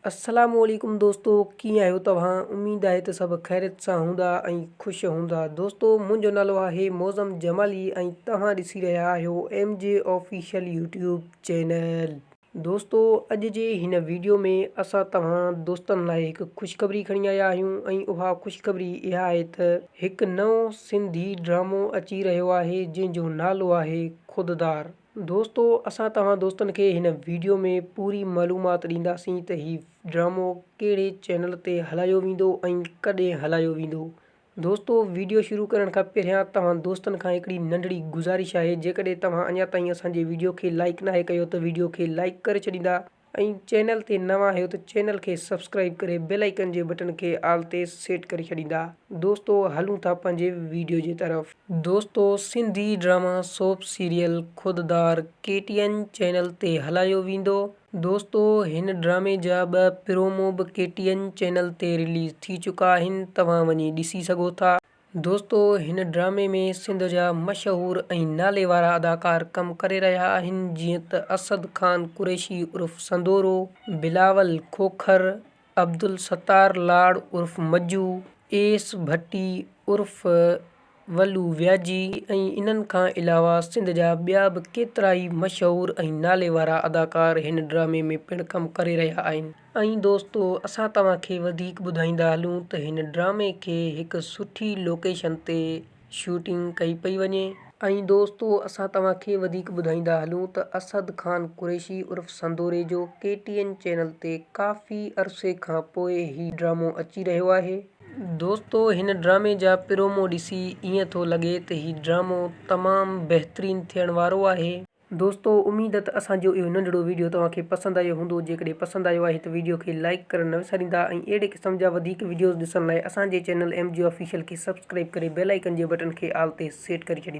السلام عليڪم دوستو ڪيئن آهيو توهان اميد آهي ته سڀ خيريت سان هوندا ۽ خوش هوندا دوستو منهنجو نالو آهي معظم جمالي ۽ توهان ڏسي رهيا آهيو M G official YouTube channel دوستو اڄ جي هن ويڊيو ۾ اسان توهان دوستن لاء هڪ خوشخبري کڻي آيا آهيون ۽ اها خوشخبري اها آهي ته هڪ نئون سنڌي ڊرامو اچي رهيو آهي جنهن جو نالو آهي خوددار دوستو اسان توهان دوستن کي هن ويڊيو ۾ پوري معلومات ڏينداسين ته هي ڊرامو ڪهڙي چينل تي هلايو ويندو ۽ ڪڏهن هلايو ويندو. دوستو ويڊيو شروع ڪرڻ کان پهريان توهان دوستن کان هڪڙي ننڍڙي گذارش آهي جيڪڏهن توهان اڃا تائين اسان جي ويڊيو کي لائيڪ ناهي ڪيو ته ويڊيو کي لائيڪ ڪري ڇڏيندا ۽ چينل تي نوان آهيو ته چينل کي سبسڪرائيب ڪري بيل آئيڪن جي بٽڻ کي آل تي سيٽ ڪري ڇڏيندا دوستو هلون ٿا پنهنجي ويڊيو جي طرف. دوستو Sindhi drama soap serial Khuddar K T N channel تي هلايو ويندو دوستو هن ڊرامي جا ٻه پرومو به ڪي ٽي اين چينل تي رليز ٿي چڪا آهن توهان وڃي ڏسي سگهو ٿا. دوستو هن ڊرامي ۾ سنڌ جا مشهور ۽ نالي وارا اداڪار ڪم ڪري رهيا آهن جيئن ته اسد خان قريشي عرف سندورو، بلاول کوکر، عبدالستار لاڙ عرف مجو، ايس ڀٽي عرف ولو وياجي ۽ انهن کان علاوه سنڌ جا ٻيا به ڪيترائي مشهور ۽ نالي وارا اداڪار هن ڊرامي ۾ پڻ ڪم ڪري رهيا آهن. ۽ دوستو اسان توهان کي وڌيڪ ٻڌائيندا هلون ته هن ڊرامي کي هڪ سٺي لوڪيشن تي شوٽنگ ڪئي پئي وڃي. ۽ دوستو اسان توهان کي وڌيڪ ٻڌائيندا هلون ته اسد خان قريشي عرف سندوريجو ڪي ٽي اين چينل تي ڪافي عرصي کان پوء هي ڊرامو اچي رهيو آهي. دوستو هن ڊرامي جا پرومو ڏسي ائين ٿو لڳي ته هي ڊرامو تمام بهترين ٿيڻ وارو آهي. دوستو اميد ته اسان جو اهو ننڍڙو ويڊيو توهان کي پسند آيو هوندو جيڪڏهن پسند آيو آهي ته ويڊيو کي لائيڪ ڪرڻ نه وساريندا ۽ اهڙي قسم جا وڌيڪ ويڊيوز ڏسڻ لاء اسان جي چينل ايم جي آفيشل کي سبسڪرائيب ڪري بيل آئيڪن جي بٽن کي آل تي سيٽ ڪري ڇڏيندا.